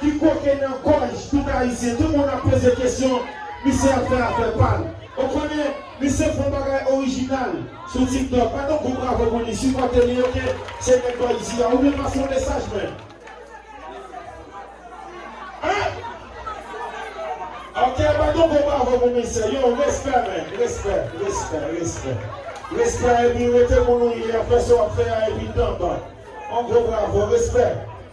ki koken nan gòj tout ayisyen tout moun ap poze kesyon misye ap fè afè pal ou konnen misye fon bagay orijinal sou tiktok bat yon gwo bravo pou li sipòte li ok se nèg bò isi a oubyen pase yon mesaj menm ah ok bat yon gwo bravo pou misye yow respè men respè respè respè respè epi rete moun ou ye ap fè sa wap fè a epi tanpba yon gwo bravo respè.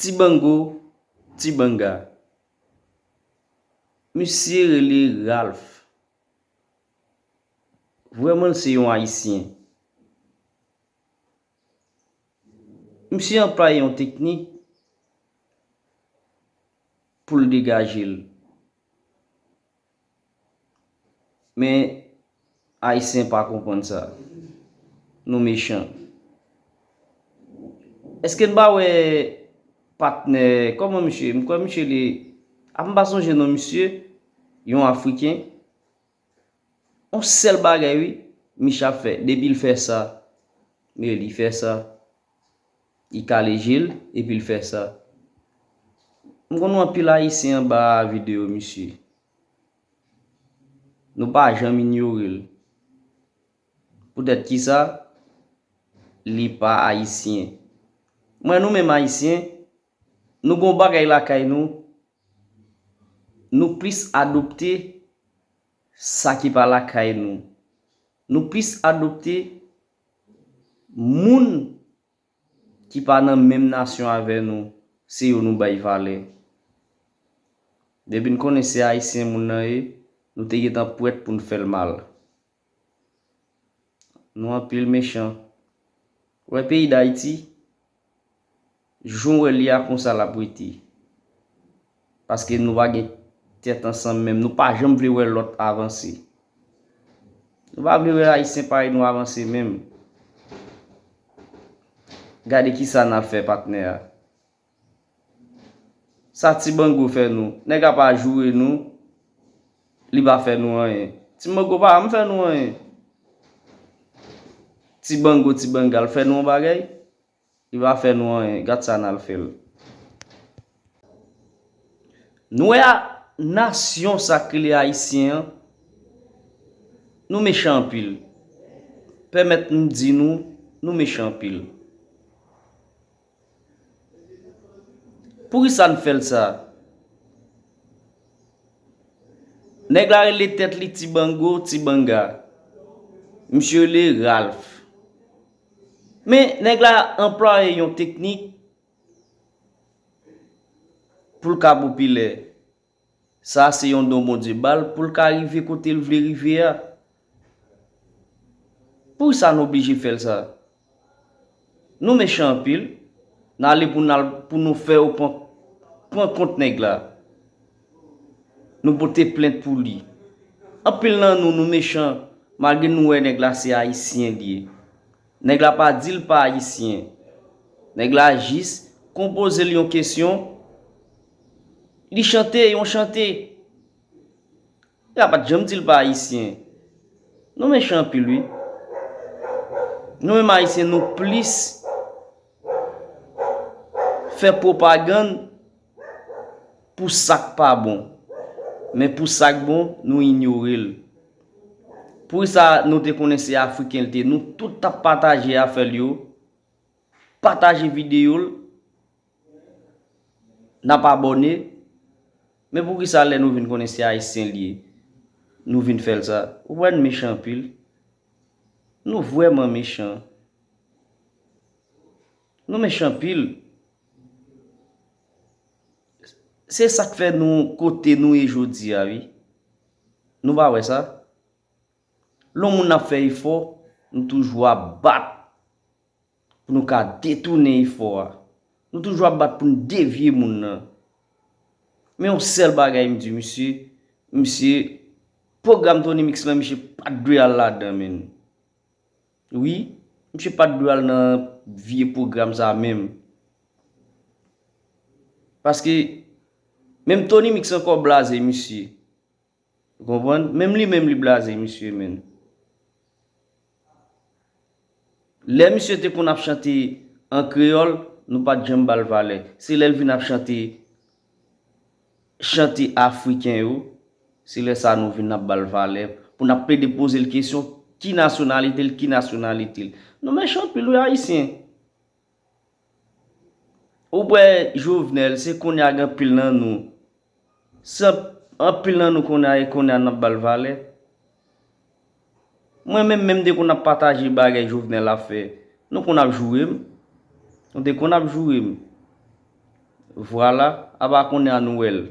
Ti bango, ti banga. Misye rele Ralph. Vrèman l se yon Ayisyen. Misye anplwaye yon teknik pou l degaje l. Men ayisyen pa konprann sa. Nou mechan. Eske n pa wè patnè, kòman misye, m kwè misye li, a m pa sonje non misye, yon afriken, yon sèl bagay wi, misye ap fè, depi l fè sa, li fè sa, Li kale je l epi l fè sa. M konn wè anpil Ayisyen anba videyo misye. Nou pa janm inyore l. Poutèt ki sa? Li pa Ayisyen. Mwen nou menm Ayisyen, nou gen yon bagay lakay nou, nou plis adopte sa ki pa lakay nou. Nou plis adopte Moun ki pa nan menm nasyon avè nou, se yo nou bay valè. Depi n konnen se Ayisyen moun nan ye, nou te gentan prèt pou n fè l mal. Nou anpil mechan. Ou wè peyi Dayiti, Jan w wè li a konsa l ap rete. Paske nou pa gen tèt ansanm menm. Nou pa janm vle wè lòt avanse. Nou pa vle wè Ayisyen parèy nou avanse menm. Gade kisa n ap fè patnè a. Sa ti bango fè nou? Nèg a pa joure nou, li pa fè nou anyen. Ti mango pa janm fè nou anyen. Ti bango, ti banga l fè nou yon bagay? Li pa fè nou anyen. Gad sa n al fè l. Nou wè a, nasyon sa k rele Ayisyen an, nou mechan anpil. Pèmèt m di nou, nou mechan anpil. Poukisa n fè l sa? Nèg la rele tèt li Ti Bango, Ti Banga. Misye rele Ralph. Men, nèg la anplwaye yon teknik pou l ka popilè. Sa a se yon don Bondye ba l pou l ka rive kote l vle rive a. Poukisa n oblije fè l sa? Nou mechan anpil, n ale pou n al pou nou fè yo pran kont nèg la. Nou pote plent pou li. Anpil nan nou, nou mechan malgre nou wè nèg la se Ayisyen li ye. Nèg la pa di l pa Ayisyen. Nèg la jis konpoze l yon kesyon Li chante yon chante. Epa pat janm di l pa ayisyen. Nou mechan anpil wi. Nou menm ayisyen nou plis fè pwopagann pou sak pa bon. Men pou sak bon nou inyore l. Pou sa nou te konnen se afriken l te nou tout tap pataje afè l yo. Pataje video l. Nap abòne, men poukisa lè nou vin konnen se ayisyen li ye nou vin fèl sa, ou wè n mechan anpil, nou vrèman mechan, nou mechan anpil, se sak fè nou kote nou ye jodi a wi, nou pa wè sa, lè yon moun ap fè efò nou toujou ap bat. Pou nou ka detounen efò a. Nou toujou ap bat pou n devye moun nan. Men yon sèl bagay m di misye, misye, pwogram Tony Mix lan misye pa t dwe al ladan menn. Wi, misye pa t dwe al nan vye pwogram sa menm. Paske, menm Tony Mix ankò blaze misye. Ou konprann? Menm li menm li blaze misye menn. Lè misye te konn ap chante an kreyòl, nou pa t janm ba l valè. Se lè l vin ap chante chante afriken yo, se lè sa a nou vin ap ba l valè, pou n ap plede poze l kesyon ki nasyonalite l, ki nasyonalite l. Nou mechan anpil wi ayisyen. Ou wè jovenel se konnya gen anpil nan nou se anpil nan nou konnya e konnya nap bal valè mwen menm menm depi nap pataje bagay jovenel ap fè nou konn ap joure m nou te konn ap joure m vwala apa konnya nou wèl.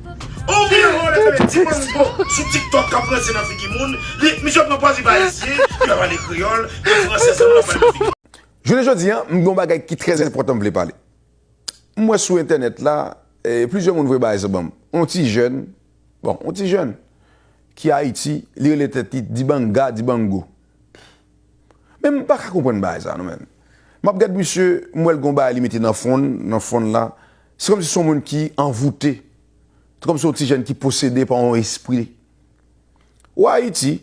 On vye volè sa vle ti mango sou tiktok kap ranse nan figi moun li misye pran pòz li pa ayisyen li pa pale kreyòl li fransè sèlman lap pale nan figi moun. Jounen jodi an m gen yon bagay ki trè enpòtan m vle pale m wè sou entènèt la plizyè moun voye bagay sa banm yon ti jèn bon yon ti jèn ki ayiti li rele tèt li dibanga dibango Pff men m paka konprann bagay sa non men map gad misye m wèl gon bagay li mete nan fwonn nan fwonn la se kòmsi son moun ki anvoute se kòmsi yon ti jèn ki posede pa yon espri ou ayiti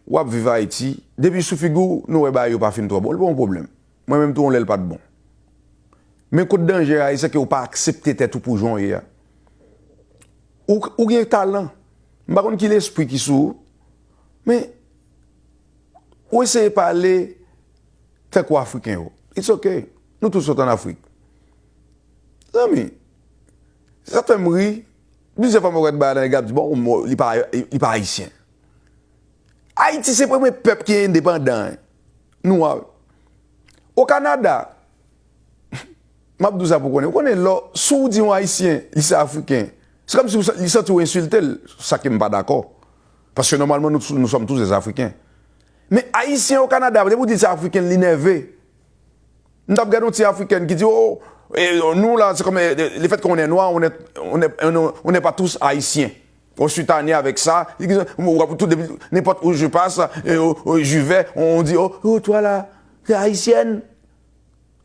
wap viv ayiti depi sou figi w nou wè bagay yo pa fin twò bon li pa yon pwoblèm mwen menm tou yon lè l pat bon men kot danje a e sèke ou pa aksepte tèt ou pou jan w ye a ou gen talan m pa konn ki lespri ki sou ou. Men, ou eseye pale tankou Afriken yo. It's ok. Nou tout sot an Afrik. Zanmi, sa fè m ri, plizyè fwa mwen wè bagay la, nèg ap di, bon, li pa Ayisyen. Ayiti se premye pèp ki endepandan, nwa. O Kanada, M ap di w sa pou w konnen. Ou konnen lè w, si w di yon Ayisyen li se Afriken, se kòm si w, li santi w ensilte l, sa ke m pa dakò. Paske nòmalman nou, nous sommes tous des Africains. Men Ayisyen o Kanada, depi w di l se Afriken, li nève. M t ap gade yon ti Afrikèn ki di, Oh, nous là, c'est comme, le fait qu'on est noir, on est, on est, on n'est pas tous Haïtiens. On suis tanne avec ça. Ou wè tout depi, nenpòt où je passe, j'y vais, on dit, Oh, toi là, tu es Haïtienne?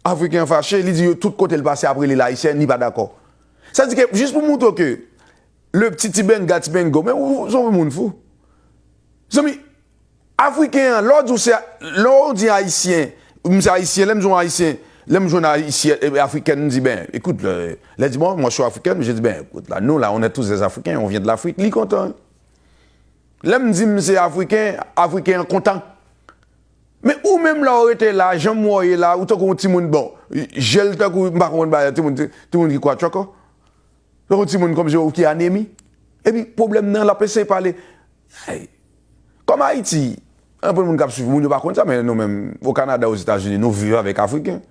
Afriken an fache, li di yo tout kote l pase ap rele l Ayisyen, li pa dakò. Sa di ke jis pou moutre w ke le pti ti benga ti bengo, men ou son pou moun fou. Zanmi, Afriken an, lè w di w se, lè w di Ayisyen, m se Ayisyen, lè m di w Ayisyen, lè m jwenn Ayisyen, Afrikèn, m di ben, ekout, lè di bon, moi je suis Africaine, je dis ben, écoute là, nous là, on est tous des Africains, on vient de l'Afrique, li kontan. Lè m di m se Afriken, Afriken an kontan. Men ou menm la ou rete la janm wè w ye la ou tankou yon timoun bon je l tankou m pa konprann bagay la timoun timoun ki kwatchòkò tankou yon timoun kòmsi ou ki anemi epi pwoblèm nan l ap eseye pale ayy kòm Ayiti anpil moun k ap swiv moun yo pa konn sa men nou menm okanada ozetazini nou viv avèk afriken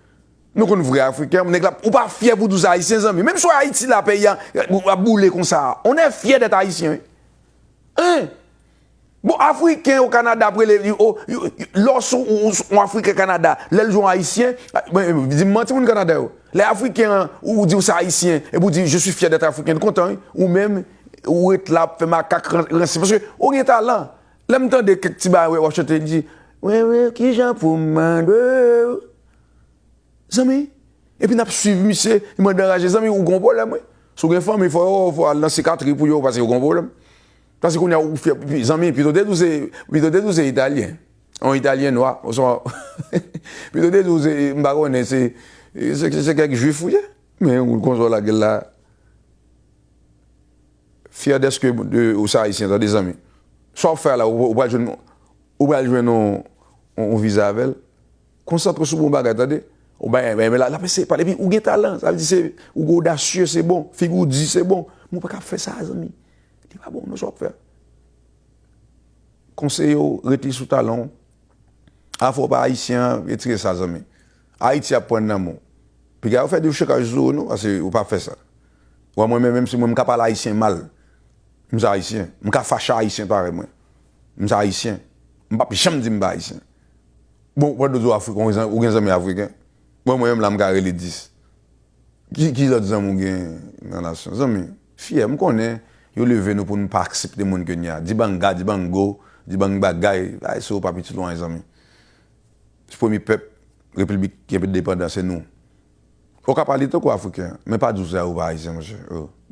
nou konn vrè afriken nèg la ou pa fyè pou di w se ayisyen zanmi menm si w ayiti la peyi a ap boule konsa on è fyè dèt ayisyen wi en. Bon afriken yo kanada ap rele li o lè w sou on afriken kanada lè l di w on ayisyen di m manti moun kanada yo lè afriken an ou di w se ayisyen epi w di je suis fier d'être africain l kontan wi ou menm ou ret la ap fè makak ranse paske ou gen talan lè m tande kèk ti bagay w ap chante m di mwen menm kijan pou m mande w zanmi epi n ap swiv misye li mande anraje zanmi ou gen on pwoblèm wi si w gen fanmi fò yo al nan sikatri pou yo paske yo gen on pwoblèm. Paske kounye a ou fyè, zanmi, pito te di w se, pito te di w se Italyen, yon Italyen nwa, oswa, pito te di w se, m pa konnen, se, se kèk Jwif ou ye. Men ou konsa w lage l la. Fyè dèske ou se Ayisyen, tande zanmi. Sa w ap fè a la, ou pral jwenn, ou pral jwenn yon viza avè l. Konsantre w sou bon bagay, tande. Ou bay, men la, la pèse, pale pi, ou gen talan, sa vle di se, ou odasye, se bon, figi w di, se bon. Men ou pa ka ap fè sa a, zanmi. Li pa bon nan sa wap fè a. Konseye w rete sou talan w. Afè w pa ayisyen an retire sa zanmi. Ayiti ap pran nan men w. Piga yo fè dechokaj sou ou non pase ou pa fè sa. Ou wè mwen menm menm si mwen m ka pale ayisyen mal. M se ayisyen. M ka fache a ayisyen parèy mwen. M se ayisyen. M pap janm di m pa ayisyen. Bon pandan w di w afriken ou gen zanmi afriken? Bon mwen menm la m ka rele 10. Ki lòt zanmi ou gen nan nasyon zanmi? Fyè, m konnen, yo leve nou pou n pa aksepte moun ke n ye a. Dibanga, Dibango, Dibangbagay, bagay sa yo pa pitit lwen zanmi. Se premye pèp Replibik ki endepandan, se nou. Ou ka pale tankou Afriken, men pa di w se a ou pa Ayisyen, monchè.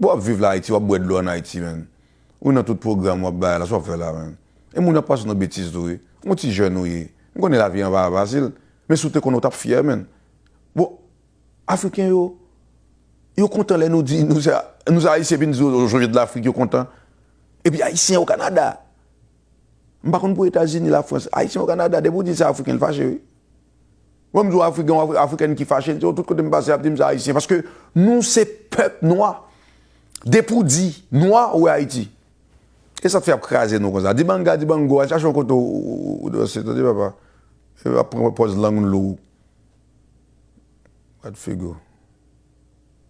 Bon w ap viv la Ayiti, w ap bwè dlo an Ayiti, menn. Ou nan tout pwogram w ap bay la, sa w ap fè la, menn? E moun ap panse nou betiz tou wi. Yon ti jèn ou ye. M konnen lavi an pa fasil, men si w te konnen w t ap fyè, menn. Bon! Afriken yo, yo kontan lè nou di nou se Ayisyen epi nou di yo Jojo Dlafrik, yo kontan. Epi Ayisyen Okanada. M pa konn pou Etazini, Lafrans. Ayisyen Okanada, depi ou di se Afriken, l fache wi. Lè m di w Afrik, gen yon Afriken ki fache, l di w tout kote m pase y ap di m se Ayisyen. Paske nou se pèp nwa. Depi w di nwa, ou wè Ayiti. E sa k fè y ap kraze nou konsa. Dibanga, dibango, al chache yon kote w danse. Tande papa. Yo ap pran pòz lang lou. What figure?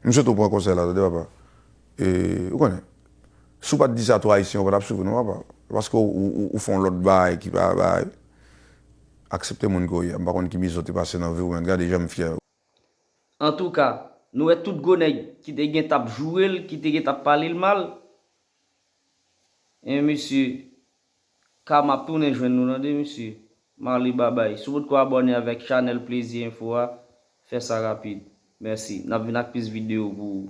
M swete w pran konsèy la tande papa. E ou konnen, si w pa t di sa to Ayisyen yo pa t ap swiv ou non papa. Se paske ou fè yon lòt bagay ki pa bagay. Aksepte moun ke w ye a. M pa konn ki mize w te pase nan vi w men gade jan m fyè. Antouka, nou wè tout gwo nèg ki te gen t ap joure l, ki te gen t ap pale l mal? E misye Ka map tounen jwenn nou tande mesye. Marly babay. Si w potko abòne avèk chanèl plezi enfo a, fè sa rapid. Mèsi. Nap vin ak plis videyo pou ou.